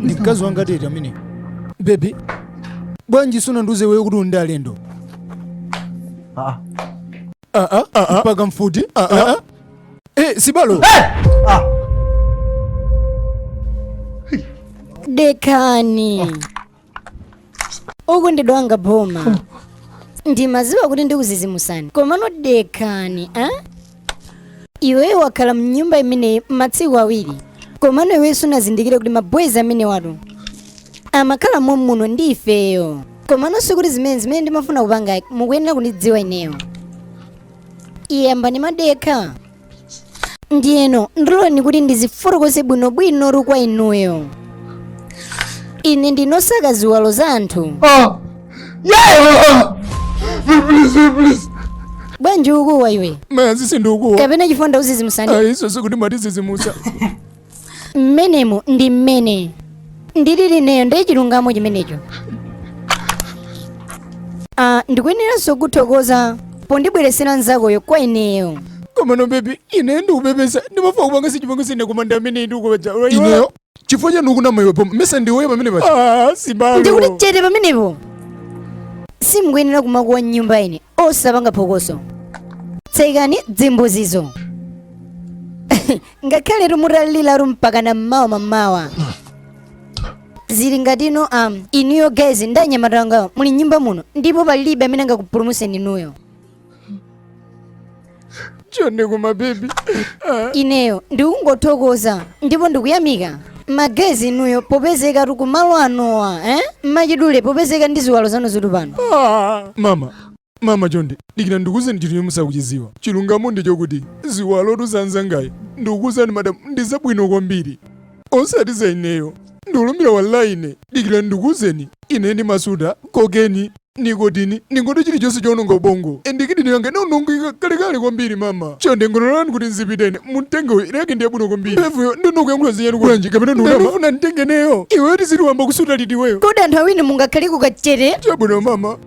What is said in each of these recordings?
ndi mkazi wanga tete amene bebi bwanji sunandiuze wewe kuti undi alendo Ah, Ah, ah, ah, ah. mpaka mfuti Ah, ah, ah. Eh, sibalo ah. dekani ukundidabwa boma ndimaziwa kuti ndikuzizimusani komano dekhani a iweyo wakhala mnyumba imeneyi matsiku awiri komano iweyo sunazindikire kuti mabwezi amenewatu amakhala mommuno ndi ifeyo komano sikuti zimene zimene ndimafuna kupanga mukuyenera kundidziwa ineyo iyayi ambwana madekha ndiyeno ndiloleni kuti ndizifotokoze bwinobwinotu kwa inuyo ine ndimasaka ziwalo za anthu Oh. Yeah. Please, please. bwanji ukuwa iwe Mayazi sindikuwa. kapena chifukwa ndakuzizimusani Aiso sikuti mwatizizimusa. mmenemo ndi mmene ndilili ineyo ndi chilungamo chimenecho Ah, ndikuyeneranso kuthokoza pondibweretsera nzakoyo kwa ineyo komano bebi ine ndikupepesa ndimafuna kupanga sichipango sine koma ndi amene ndikupa uja ineyo chifukwa chani ukunama iwe pomwe mesa ndiweyo pamene paja ndikuti chete pamenepo simukuyenera kumakuwa mnyumba ino osapanga phokoso tsekani zimbuzizo ngakhaletu mutaliliratu mpakana mmawa mamawa zili ngati ino um, inuyo guys ndi anyamata angawa muli mnyumba muno ndipo palibe amene angakupulumutseni inuyo chonde koma bebi ineyo ndikungothokoza ndipo ndikuyamika madyezi inuyo popezekatu kumalo anowa eh? mmachidule popezeka ndi ziwalo zanu zili pano mama Mama chonde, dikira ndikuuzeni chinthu chomwe simukuchidziwa. Chilungamo ndi chokuti ziwalotu za nzangayi ndikukuuzani madam ndi zabwino kwambiri. Osati za ineyo. Ndikulumbira wallahi ine. Dikira ndikuuzeni. Ine ndimasuta, kokeni, nikotini, ndingoti chilichonse chowononga ubongo. Ende kidini yanga inaonongeka kalekale kwambiri mama. Chonde mungondilola kuti ndizipita ine. Mumtenge uyu yake ndi yabwino kwambiri. Levuyo ndiwe ukuyankhula zinachani kulanji kapena ndi kudama. Ndikufuna anditenge ineyo. Iweyo tiziti wayamba kusuta liti iweyo. Kodi anthu awiri mungakhale kukachere? Chabwino mama.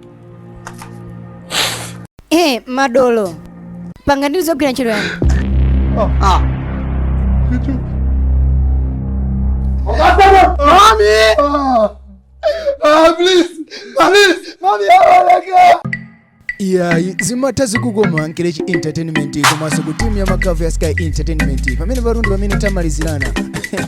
Hey, madolo pangani ndi zogwira ntchito yanu Ah. Mami! Ah. Ah, please! Please! Mami, abaleka! iyayi zimatha zikukoma Nkechi entertainment komanso ku timu ya makavu ya sky entertainment pamene palundu pamene tamalizirano